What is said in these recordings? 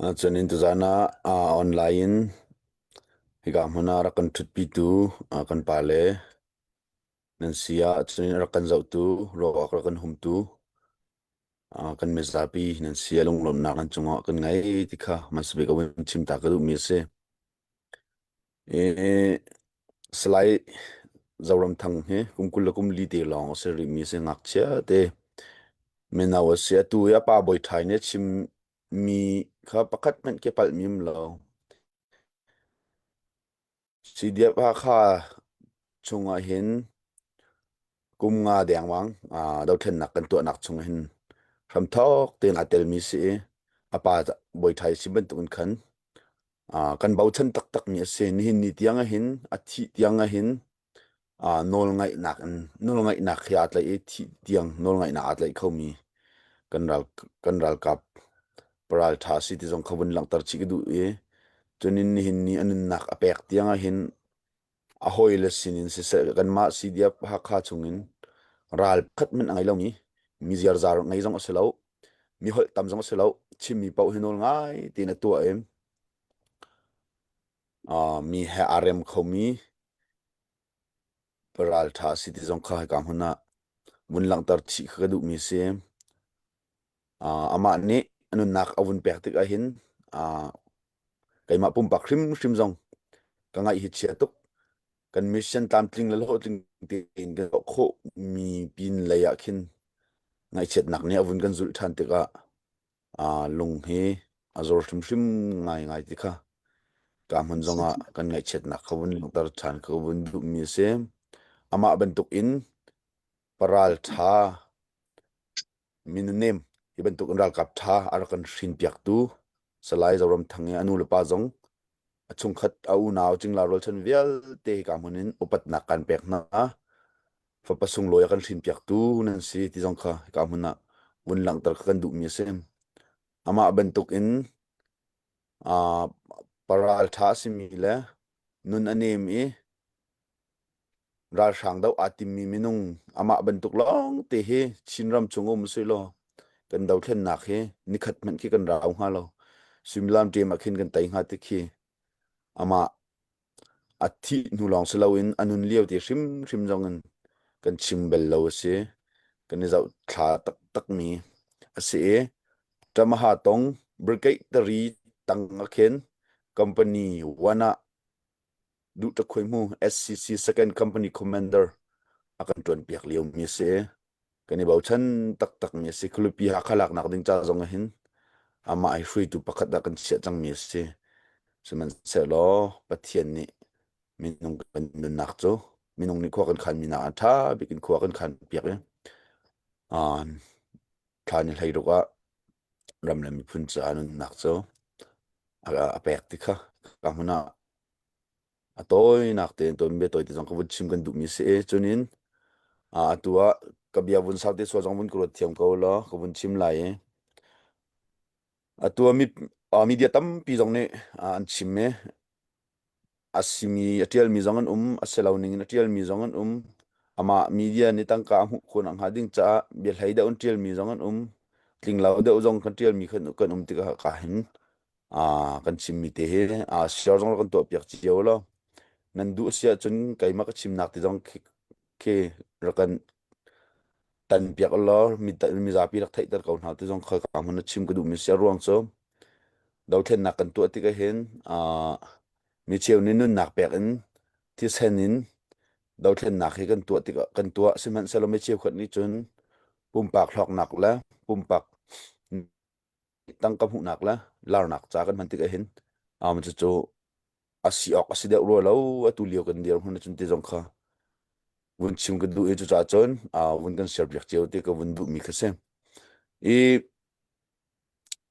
Cun in tuzaan ah online in hika hmun ah rak kan ṭhutpitu kan pale nan si ah cun rak kan zohtu ruahawk rak kan humtu kan mizapi nan si ah lunglawmhnak an cungah kan ngei ti kha hmasabik a vun chim ta ka duhmi a si. Salai Zoram Thang hi kum kul le kum li te lawng a si rihmi a si ngakchia te. Mino a si atu hi a pa bawi ṭhai nih a chim Mi kha pakhat hmanh ka palh mim lo. Sidiap Hakha chungah hin kum nga dengwang uh, dothlennak kan tuahnak chung hin hramthok tein aa telmi si i a pa boithai si bantukin khan uh, kan bochan taktakmi a si nihin ni tiang ahin a thih tiang ahin nawlngaihnak in nawlngaihnak he aa tlaih i thih tiang nawlngaihnak aa tlaih khomi kan ral kan ralkap paraltha si ti zong kha vun langhter chih ka duh i cunin nihin ni a nunnak a pek tiang ah hin a hawile sin in siseh kanmah CDF Hakha chung in ral khat min a ngei lomi mi ziarzaar ngei zong a si lo mi holh tam zong a si lo chimmi paoh hi nawl ngai tiin a tuah i Mi he aa rem khomi ralṭha a si ti zong kha hika hmun ah vun langhter chih kha ka duhmi a si. Amah nih a nunnak a vun pek tik ahhin keimah pumpak hrimhrim zong ka ngaih hi chia tuk. Kan mission tlamtling le hlawhtling tein kan tuah khawhmi pin lei ah khin ngaihchiatnak nih a vun kan zulh ṭhan tikah lung hi a zor hrimhrim ngaingai ti kha ka hmun zongah kan ngaihchiatnak kha vun langhter ṭhan kha vun duhmi a si. Amah bantukin paral ṭha, minonem hi bantukin ralkap ṭha a rak kan hrinpiaktu Salai Zoram Thang i a nu le pa zong a chungkhat a unau cingla rualchan vialte hika hmun in upatnak kan pek hna fapa sunglawi a kan hrin piaktu nan si ti zong kha hika hmun ah vun langhter kha kan duhmi a si amah bantuk in uh, paral tha simi le nun a nem i ralhrang do aa timmi minung amah bantuk lawngte hi Chinram chung um sui law kan dothlennak hi nikhat hmanh khi kan rau hnga lo suimilam ṭem ah khin kan tei hnga ti khi amah a thih hnu lawng si loin a nun lio ti hrimhrim zong in kan chim bel lo a si kan i zoh thla taktakmi a si i tamaha tong brigade tari tang a khin company wana Duhtakhuai hmu SCC second company commander a kan ṭuanpiak liomi a si. Kan i bochan taktakmi a si. Khulipi Hakha laknak ding ca zong ah hin amah hi hruaitu pakhat ah kan chiah cangmi a si. Sihmanhsehlaw Pathian nih minung kan nunnak cu minung nih khua kan khanmi nak ah ṭha bik in khua kan khan piak i uh, thla ni hlei ruk ah ram le miphun caah nunnak cu a, a pek ti kha ka hmun ah a tawinak tein ton bia toi te zong ka vun chim kan duh mi si e cunin a atu ah ka bia vun sau te suwa zong vun ka ruat thiam ko law ka vun chim lai i atu ah mi, uh, media tampi zong nih uh, an chim e a simi a ṭialmi zong an um, a si lo ningin a ṭialmi zong an um. Amah media nih tangka a hmuh khun a hnga ding caah biahlei deuh an ṭialmi zong an um. Tlinglo deuh zong kan ṭialmi kan kan um tikah ka hin ah kan chimmi te hi ah share zong kan tuahpiak cio lo. Nan duh a si ahcun keimah ka chimnak ti zong khi khi rak kan Tan piak law mizapi rak theihter ko hna ti zong kha ka hmun a chim ka duhmi si. A ruang cu dothlennak kan tuah tik ahhin micheu nih nunnak pek in thisen in dothlennak hi kan tuah tikah kan tuah. Sihmanhsehlaw micheu khat nih cun pumpak hlawknak le pumpak tangka hmuhnak le larnak ca kan hman tik ahhin um, cucu a si awk a si deuh rua lo atu lio kan dir hun cun ti zong kha vun chim kan duh i cucaah cun uh, vun kan share piak cio ti ka vun duh mi kha si i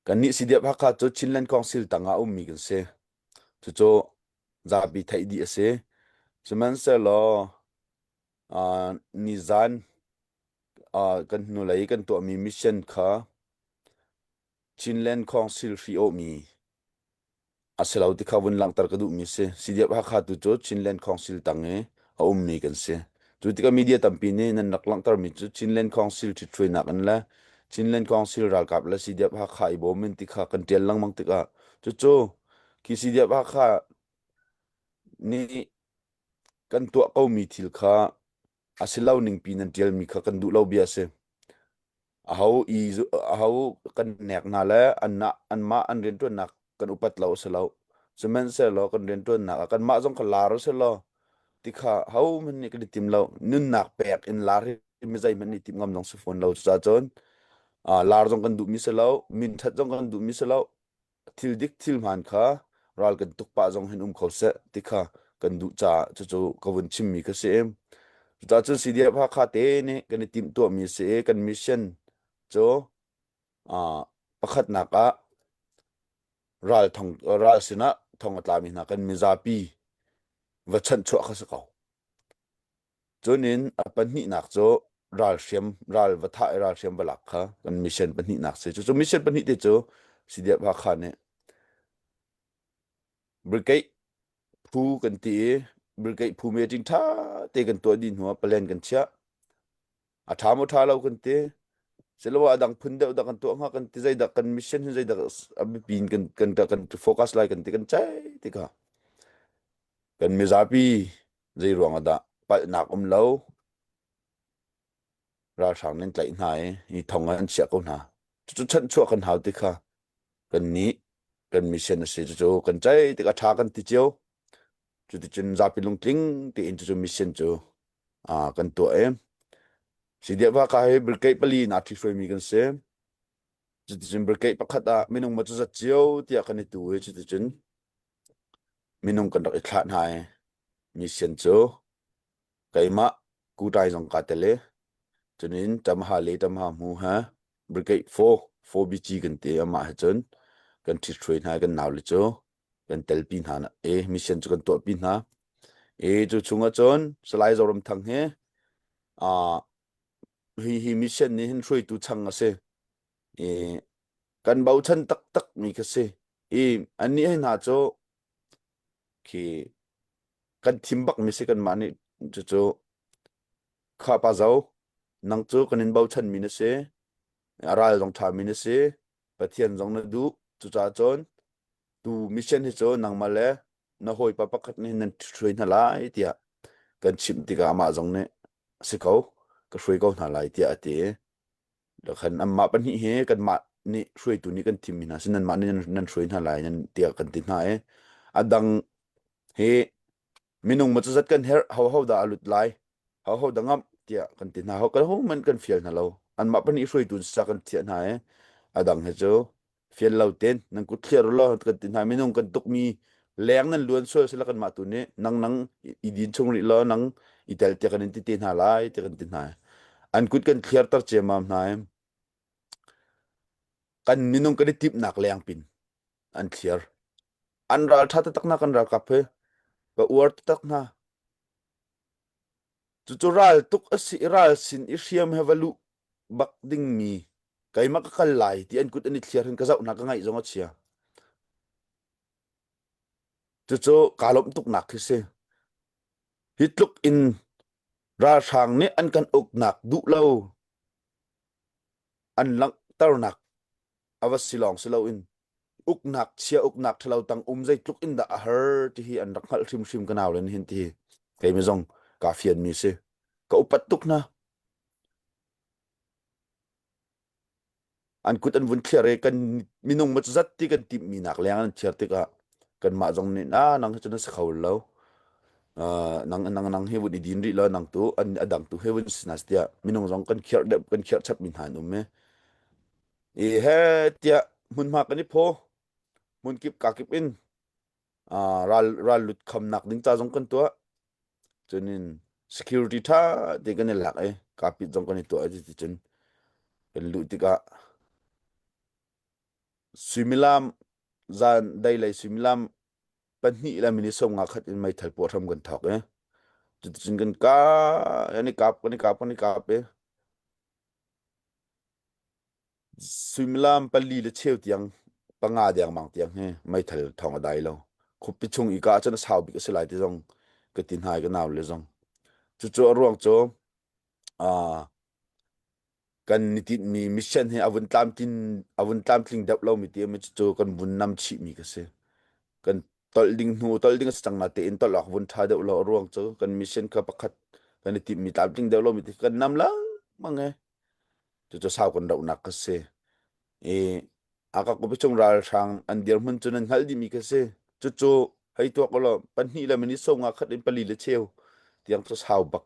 kan nih si diap hakha cu Chinland Council tangah um mi kan si cucu zabi theih di a si sihmanhsehlaw uh, nizan uh, kan hnulei kan tuahmi mission kha Chinland Council hri awmi a si lo ti kha vun langhter ka duhmi si CDF Hakha tu cu Chinland Council tang i a ummi kan si cu tikah media tampi nih nan rak langhtermi cu Chinland Council ṭhit hruainak in le Chinland Council ralkap le CDF Hakha i bawm in ti kha kan ṭial lengmang tikah cucu khi CDF Hakha nih Kan tuah komi thil kha a si lo ningpi nan ṭialmi kha kan duh lo bia a si. Aho i aho kan nek hna le anmah anmah an rianṭuannak kan upat lo a si lo. Sihmanhsehlaw kan rianṭuannak ah kanmah zong ka lar u sih law ti kha hohmanh nih kan i tim lo. Nunnak pek in lar hi mizeihmanh nih tim ngam zong si fawn lo. Cucacun lar zong kan duhmi si lo, minthat zong kan duhmi si lo, thil dik thil hmaan kha ral kan tuk pah zong hin um kho seh ti kha kan duh caah cucu ka vun chimmi ka si em cuta cun CDF Hakha te nih kan i timh tuahmi si i kan mission cu pakhatnak ah ral thong ral sinah thong a tlami hna kan mizapi va chanh chuah kha si ko Cunin a pahnihnak cu ralhriam ral va thah i ralhriam va lak kha kan mission pahnihnak si. Cucu mission pahnih te cu Sidiap Hakha nih Brigade phu kan ti i Brigade phu meeting ṭha te kan tuah dih hnuah plan kan chiah. A ṭha maw ṭha lo kan ti. Siloah a dang phun deuh dah kan tuah hnga kan ti zeidah kan mission hi zeidah a biapi in kan kan kan focus lai kan ti kan ceih tikah kan mizapi zeiruang ah dah palhnak um lo ralhrang nan tlaih hna i hi thong an chiah ko hna cucu chanhchuah kan hau ti kha kan nih kan mission a si cucu kan chaih tik a tha kan ti cio cuticun zapi lungtling tiin cucu mission cu ah kan tuah e sidia va ka hi brigade pali na thi hruai mi kan si cuticun brigade pakhat ah minung ma cu zat cio tiah kan i tu i cuticun Minung kan rak i thlah hna i misen cu keimah kutai zong kaa tel i cunin ṭamha le ṭamha hmu he brigade four, four BG kan ti i amah he cun kan ṭhithruai hna i kan naule cu kan telpi hna i misen cu kan tuahpi hna. I cu chungah cun Salai Zoram Thang hi hi hi misen nih hin hruaitu chang a si. i kan bochan taktak mi kha si i annih hei hna cu khi kan thim bak mi si kanmah nih cucu kha pa zo nang cu kan in bochan mi na si a ral zong ṭha mi na si pathian zong na duh cucaah cun tu mission hi cu nangmah le na hawipa pakhat nih nan hruai hna lai tiah kan chimh tikah amah zong nih a si ko ka hruai ko hna lai tiah a ti i Khan anmah pahnih hi kanmah nih hruaitu nih kan thimmi hna si nanmah nih nan hruai hna lai nan tiah kan ti hna i a dang hi minung maw cazat kan herh hoho dah a lut lai hoho dah ngamh tiah kan ti hna ho kan hohmanh kan fial hna lo anmah pahnih hruaitu in sa kan thiah hna i a dang hi cu fian lo ten nan kut thlir law kan ti hna minung kan tukmi leng nan luan sual sila kan mah tu nih nang nang i din chung rih law nang i tel te kan in ti te hna lai te kan ti hna an kut kan thlir tar cemam hna kan minung kan i tip nak leng pin an thlir an ral tha takna kan ral kap he ba uar tak na Cucu ral tuk a si i ral sin i hriam he va luh bak dingmi keimah ka kal lai ti an kut an i thliar hin ka zohnak ka ngaih zong a chia. Cucu kaa lawmh tuknak khi si. Hi tluk in ralhrang nih an kan uknak duh lo an langhternak a va si lawng si loin uknak chia uknak ṭhalo tang um zeitluk in dah a har ti hi an rak hngalh hrimhrim ka nau le hin ti keimi zong kaa fianmi si ka upat tuk hna an kut an vun thliar i kan minung macu zat ti kan timhmi nak leng an thiar tikah kanmah zong nih na nang hi cun na si kho lo nang nang nang he vun i din rih law nang tu an adang tu he vun si na tiah minung zong kan khirh dep kan khirh chap mi hna an um e i he tiah hmunhma kan i phaw hmun kip ka kip in ral ral lut kham nak ding ta zong kan tuah chunin security tha te kan i lak e kapit zong kan i tuah ti cun kan lu tikah Suimilam zan dai lei suimilam pahnih le minute sawmnga khat in meithal puah hram kan thawk i cuticun kan ka an i kap kan i kap kan i kap i suimilam pali le cheu tiang panga dengmang tiang hi meithal thawng a dai lo khupi chung i ka ahcun a sau bik a si lai ti zong ka ti hna i ka nau le zong cucu a ruang cu kan ni tinhmi mission hi a vun tlamtlin a vun tlamtling deuh lomi ti mi cu kan vun nam chih mi ka si kan tolh ding hnu tolh ding a si cang na tein tolh awk vun tha deuh lo ruang cu kan mission kha pakhat kan i timh mi tlamtling deuh lo mi ti kan nam lang mange cu cu sau kan rauh nak ka si i akak upachung ralhrang an dirhmun cu nan hngal dimi ka si cucu hei tuak ulaw pahnih le minute songa khat in pali le cheu tiang cu sau bak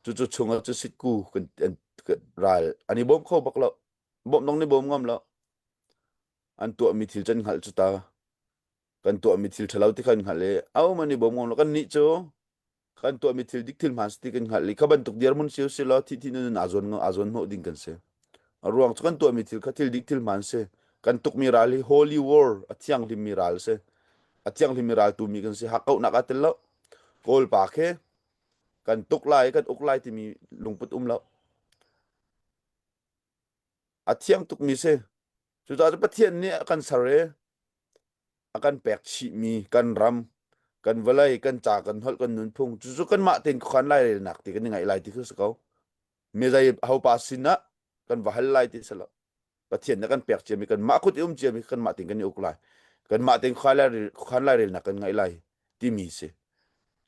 cucu chungah cu sitku kan an kan ral an i bawm kho bak lo bawm dong ni bawm ngam lo an tuahmi thil can hngalh cu ta kan tuahmi thil ṭhalo ti kan hngalh i ahohmanh i bawm ngam lo kannih cu kan tuahmi thil dik thil hmaan ti kan hngalh i kha bantuk dirhmun si si law thihthi nun aa zuan aa zuanhnawh ding kan si a ruang cu kan tuahmi thil kha thil dik thil hmaan si kan tukmi ral hi holy war a thianghlimmi ral si a thianghlimmi ral tumi kan si hakkauhnak aa tel lo kawl pa khe kan tuk lai kan uk lai timi lungput um lo a thiang tukmi si. Cucaah Pathian nih a kan ser i a kan pek chihmi kan ram, kan vawlei, kan ca, kan holh, kan nunphung, cucu kanmah tein khuakhan lai relnak ti kan i ngaih lai ti khi si ko. Mizei hopa sinah kan va hal lai ti si lo. Pathian nih a kan pek ciami kanmah kut i um ciami kanmah tein kan i uk lai. Kanmah tein khuakhan lai, khuakhan lai relnak kan ngaih lai timi si.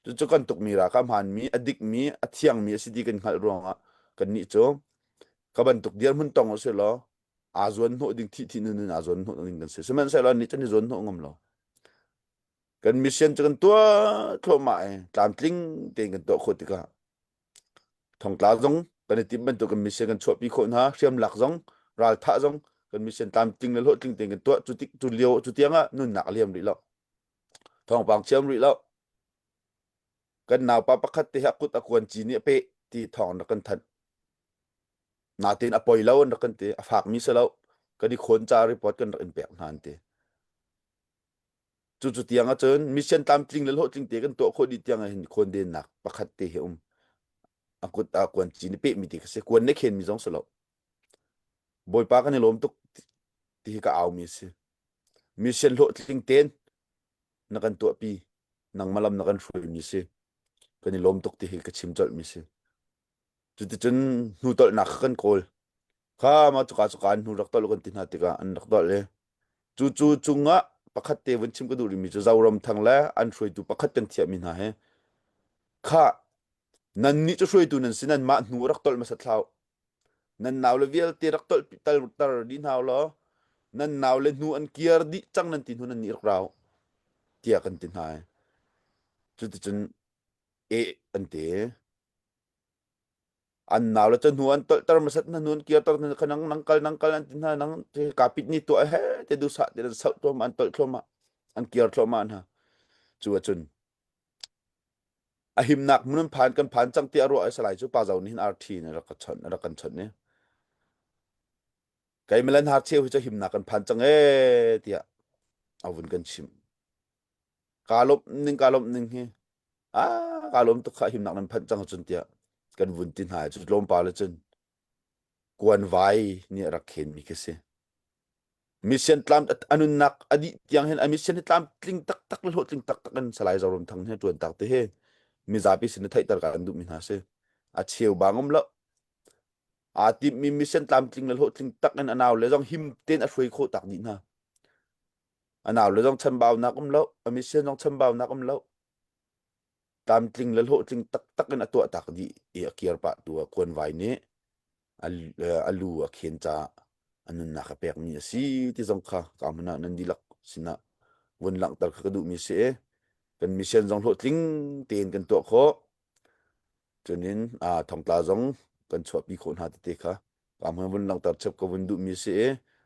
Cucu kan tukmi ra ka hmanmi, a dikmi, a thiangmi a si ti kan hngalh ruangah kannih cu ka bantuk dirhmun tong usih law aa zuan hnawh ding thihthi nun in aa zuan hnawh ding kan si sihmanhsehlaw ni can i zuan hnawh ngam lo kan mission cu kan tuah thluahmah i tlamtling tein kan tuah khawh tikah thongtla zong kan i tim bantuk kan mission kan chuahpi khawh hna hriam lak zong raltha zong kan mission tlamtling le hlawhtling tein kan tuah cu tik cu lio cu tiang ah nunnak a liam rih lo thawngpang chiam rih lo kan naupa pakhat te hi a kut a kuan cin i a peh ti thawng na kan thanh natin a poi lo na kan ti a fak mi se lo kan i khon ca report kan rak in pek hna an ti cu cu tiang acun mission tlamtling le hlawhtling te kan tuah khawh dih tiang hin khon den nak pakhat te hi um a kut a kuan cin i peh mi ti ka se kuan ne khen mi zong se lo bawipa kan i lawm tuk ti hi ka au mi si Mission hlawhtling tein na kan tuahpi. Nangmalam na kan hruaimi si. Kan i lawm tuk ti hi ka chim colhmi si. Cuticun hnu tolhnak kha kan kawl. Kha ma cuka cuka hnu rak tolh kan ti hna tikah an rak tolh i. Cu cu cungah pakhat te vun chim ka duh rimi cu Zoram thang le an hruaitu pakhat teng thiahmi hna he. Kha nan nih cu hruaitu nan si nan mah hnu rak tolh masat hlau. nan naule vialte rak tolhter dih hna law nan naule hnu an kiar dih cang nan ti hnu nan nih rak rau tiah kan ti hna i cuticun e an ti an naule ca hnu an tolhter masat hna hnu an kiarter hna khanang nang kal nang kal an ti hna nang kapit ni tuah he te dusa te nan sauh thluamah an tolh thluamah an kiar thluamah hna cu a cun A himnak hmun an phan kan phan cang tiah ruah a si lai cu pa zo nih hin arthi in rak kan chawnh rak kan chawnh ni keimalan harcheu hi cu himnak kan phan cang ee tiah a vun kan chim ka lawm ning ka lawm ning hi a ka lawm tuk kha himnak nan phanh cang cun tiah kan vun ti hna cu tlawmpal le cun Kuan Vai nih a rak khenmi khi a si. Mission tlam a nunnak a dih tiang hin a mission hi tlamtling taktak le hlawhtling taktak in Salai Zoram Thang he ṭuan tak te hi mizapi sin i theihter ka kan duhmi hna si. A cheu bang um lo. Aa timmi mission tlamtling le hlawhtling tak in a nau le zong him tein a hruai khawh tak dih hna. A nau le zong chambaunak um lo. A mission zong chambaunak um lo. tlamtling le hlawhtling taktak in a tuahtak dih i a kir pah tu a kuan vai nih a lu a khen ca a nunnak a pek mi a si ti zong kha ka mana nan dilak sinah vun langhter kha ka duh mi si e kan mission zong hlawhtling tein kan tuah khawh cunin a thongtla zong kan chuahpi khawh hna tete kha ka mana vun langhter chep ka vun duh mi si e